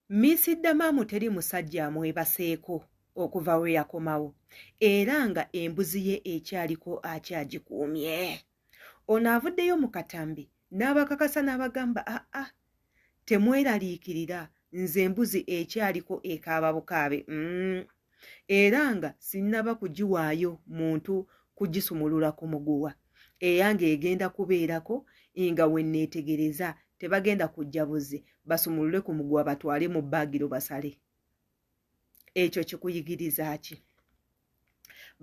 Miss Damamu teri musajja amwebaseeko okuva we yakomawo era nga embuzi ye ekyaliko akyagikuumye. Ono avuddeyo mu katambi n'abakakasa n'abagamba aa ah, ah, temweraliikirira nze embuzi ekyaliko ekaaba bukaabe mm. era nga sinnaba kugiwaayo muntu kugisumulula ku muguwa eyange egenda kubeerako nga wenneetegereza tebagenda kujja buze basumulule ku muguwa batwale mu baagiro basale ekyo kikuyigiriza ki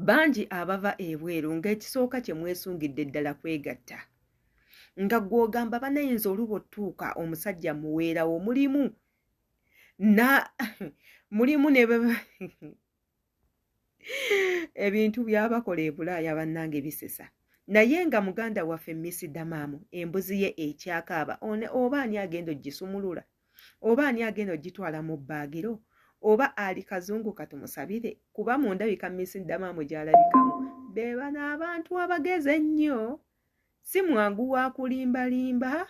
bangi abava ebweru ng'ekisooka kye mwesungidde ddala kwegatta nga gw'ogamba banayinza oluba otuuka omusajja muweerawo mulimu na mulimu ne ebintu byabakola ebulaaya bannange bisesa naye nga muganda waffe misidamaamu embuzi ye ekyakaaba oba ani agenda ogisumulula oba ani agenda ogitwala mu bbaagiro oba ali kazungu katumusabire kuba mundabika misidamaamu gyalabikamu bebano abantu abagezi ennyo si mwangu wa kulimbalimba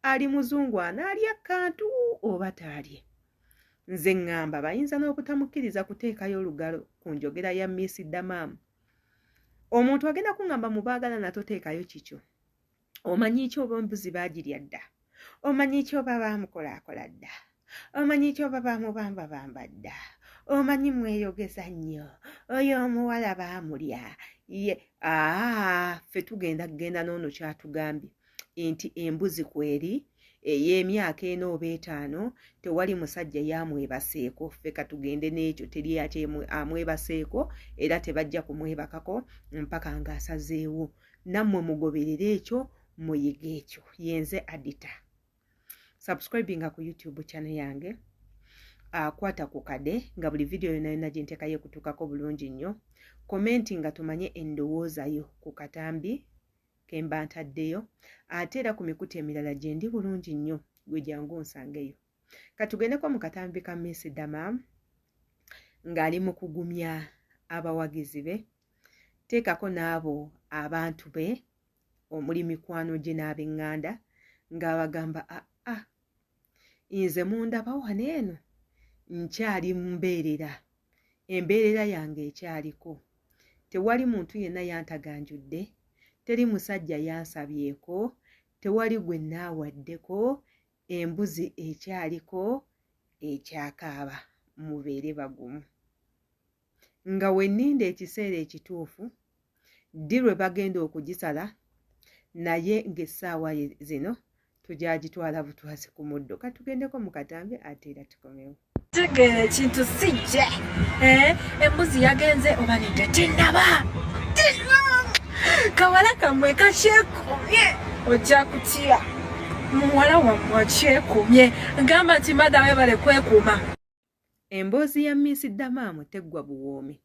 ali muzungu anaalya akkantu oba taalye nze ŋŋamba bayinza n'obutamukkiriza kuteekayo olugalo ku njogera ya miss damam omuntu agenda kuŋŋamba mu baagalana toteekayo kikyo omanyi ki oba embuzi baagirya dda omanyi kyoba bamukolakola dda omanyi kyoba bamubamba bamba dda omanyi mweyogeza nnyo oyo omuwala baamulya ye aa ffe tugenda kugenda n'ono kyatugambye nti embuzi kweri ey'emyaka ena oba etaano tewali musajja yamwebaseeko ffe katugende n'ekyo teri amwebaseeko era tebajja kumwebakako mpaka ng'asazeewo nammwe mugoberere ekyo muyige ekyo yenze adita subscribinga ku youtube channel yange akwata ah, ku kade nga buli vidiyo yona yona gyentekayo ekutuukako bulungi nnyo komenti nga tumanye endowoozayo ku katambi kemba ntaddeyo ate era ku mikutu emirala gyendi bulungi nnyo gwe jangu nsangeyo katugendeko mu katambi ka miss dama ng'ali mu kugumya abawagizi be teekako n'abo abantu be omuli mikwano gye n'abenganda ng'abagamba aa ah, ah, nze mundaba wano eno nkyali mumbeerera embeerera yange ekyaliko tewali muntu yenna yantaganjudde teri musajja yansabyeko tewali gwe naawaddeko embuzi ekyaliko ekyakaaba mubeere bagumu nga wenninda ekiseera ekituufu ddi lwe bagenda okugisala naye ng'essaawa zino tugyagitwala butwazi ku muddo katugendeko mu katambi ate era tukomewo tegeera ekintu sijje eh, embuzi yagenze oba nedda tinaba kawala kamwe kakyekomye ojja kutya muwala wammwe akyekomye gamba nti madawe bale kwekuuma Emboozi ya Miss Damaamu teggwa buwoomi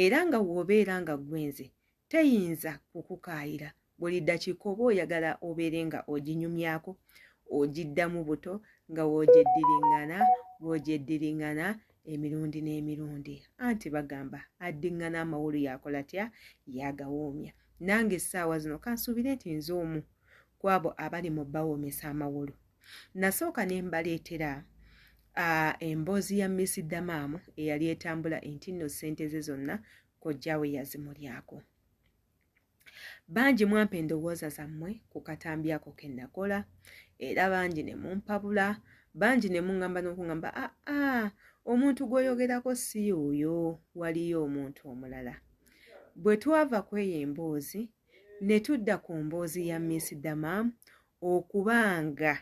era nga w'obeera nga gwenze teyinza kukukaayira buli ddakiika oba oyagala obeere nga oginyumyako ogiddamu buto nga w'ogyeddiringana w'ogyeddiringana emirundi n'emirundi anti bagamba addiŋŋana amawolu yakola tya yagawoomya nange essaawa zino kansuubire nti nze omu kwabo abali mu bawoomesa amawolu nasooka ne mbaleetera uh, emboozi ya miss damaamu eyali etambula enti nno ssente ze zonna kojjawe yazimulyako bangi mwampa endowooza zammwe ku katambi ako ke nakola era bangi ne mumpabula bangi ne muŋŋamba n'okuŋŋamba aa ah, ah, omuntu gw'oyogerako si oyo waliyo omuntu omulala bwe twava ku eyo emboozi ne tudda ku mboozi ya miss damaamu okuba nga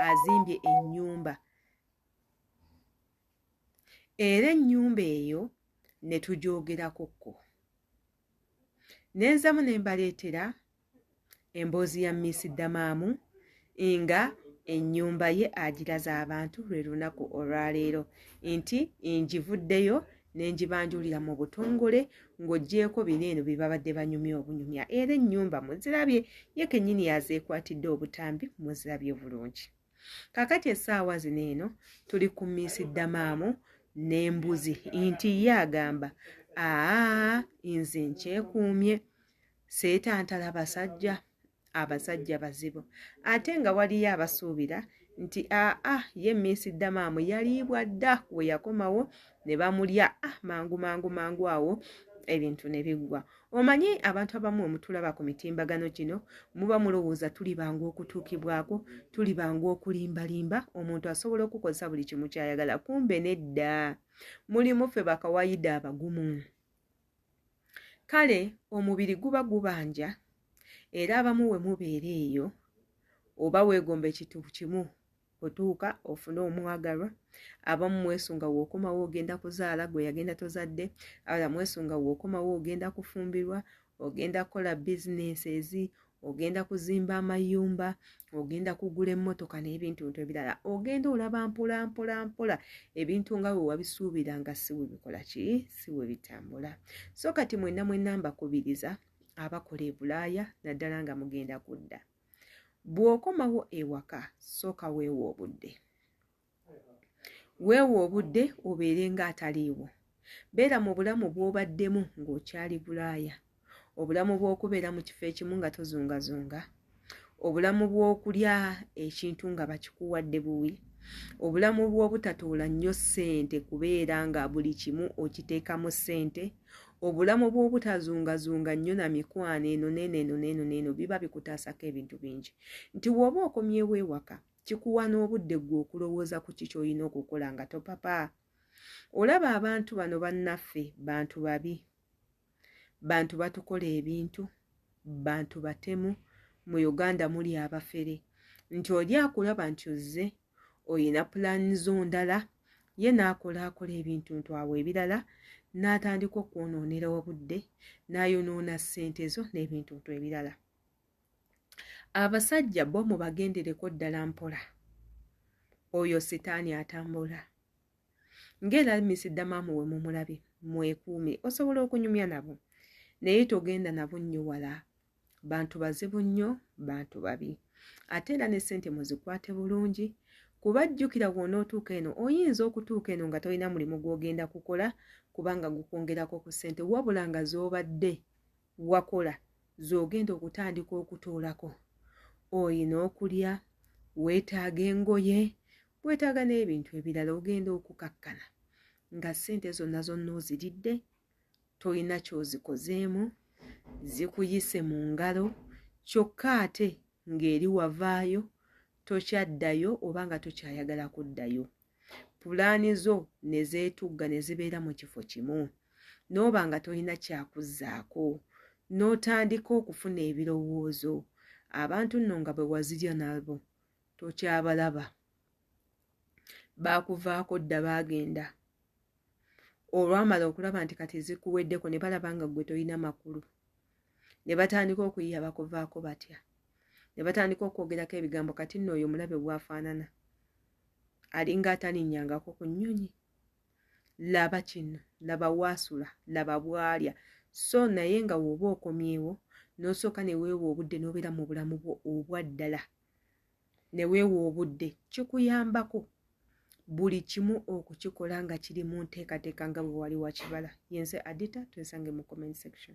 azimbye ennyumba era ennyumba eyo ne tugyogerakokko nenzamu ne mbaleetera emboozi ya miisi ddamaamu nga ennyumba ye agiraza abantu lwe lunaku olwaleero nti ngivuddeyo ne ngibanjulira mu butongole ng'oggyeeko bino eno bye babadde banyumya obunyumya era ennyumba muzirabye ye kennyini yazeekwatidde obutambi muzirabye bulungi kakati essaawa zino eno tuli ku miisi ddamaamu n'embuzi nti ye agamba aa nze nkyekuumye seetantala basajja abasajja bazibu ate nga waliyo abasuubira nti aa ah, ah, ye miisi ddamaamu yaliibwa dda we yakomawo ne bamulya ah, mangu mangu mangu awo ebintu ne biggwa omanyi abantu abamu omutulaba ku mitimbagano gino muba mulowooza tuli bangu okutuukibwako tuli bangu okulimbalimba omuntu asobola okukozesa buli kimu kyayagala kumbe nedda mulimu ffe bakawaida abagumu kale omubiri guba gubanja era abamu we mubeera eyo oba weegomba ekintu kimu otuuka ofune omwagalwa abamu mwesunga wookomawo ogenda kuzaala gwe yagenda tozadde ala mwesunga wookomawo ogenda kufumbirwa ogenda kukola bizinesi ezi ogenda kuzimba amayumba ogenda kugula emmotoka n'ebintu bintu ebirala ogenda olaba mpola mpola mpola ebintu nga we wabisuubira nga si we bikola ki si we bitambula so kati mwenna mwenna mbakubiriza abakola e bulaaya naddala nga mugenda kudda bw'okomawo ewaka sooka weewa obudde weewa obudde obeere ng'ataliiwo beera mu bulamu bw'obaddemu ng'okyali bulaaya obulamu bw'okubeera mu kifo ekimu nga tozungazunga obulamu bw'okulya ekintu nga bakikuwadde buwi obulamu bw'obutatoola nnyo ssente kubeera nga buli kimu okiteekamu ssente obulamu bw'obutazungazunga nnyo na mikwano eno neeno eno neeno neeno biba bikutaasako ebintu bingi nti wooba okomyewo ewaka kikuwa n'obudde gwe okulowooza ku ki kyolina okukola nga topapa olaba abantu bano bannaffe bantu babi bantu batukola ebintu bantu batemu mu uganda muli abafere nti oli akulaba nti ozze olina pulaani zo ndala ye n'akola akola ebintu ntwawe ebirala n'atandika okwonoonera obudde n'ayonoona ssente zo n'ebintu ntu ebirala abasajja bo mubagendereko ddala mpola oyo sitaani atambula ng'era misidamaamu we mumulabe mwekuume osobola okunyumya nabo naye togenda nabo nnyo wala bantu bazibu nnyo bantu babi ate era ne sente muzikwate bulungi kuba jjukira wona otuuka eno oyinza okutuuka eno nga tolina mulimu gw'ogenda kukola kubanga gukwongerako ku sente wabula nga z'obadde wakola z'ogenda okutandika okutoolako oyina okulya weetaaga engoye weetaaga n'ebintu ebirala ogenda okukakkana nga ssente zonna zonna oziridde tolina kyozikozeemu zikuyise mu ngalo kyokka ate ng'eri wavaayo tokyaddayo oba nga tokyayagala kuddayo pulaani zo ne zeetugga ne zibeera mu kifo kimu n'oba nga tolina kyakuzzaako n'otandika okufuna ebirowoozo abantu nno nga bwe wazirya nabo tokyabalaba baakuvaako dda baagenda olwamala okulaba nti kati zikuweddeko ne balaba nga ggwe tolina makulu ne batandika okuyiya bakuvaako batya ne batandika okwogerako ebigambo kati nno oyo omulabe bwafaanana alinga atalinyangako ku nnyonyi laba kino laba waasula laba bwalya so naye nga wooba okomyewo nosooka neweewa obudde nobeera mu bulamu bwo obwaddala neweewa obudde kikuyambako buli kimu okukikola nga kiri mu nteekateeka nga bwe wali wakibala yenze adita twesange mu comment section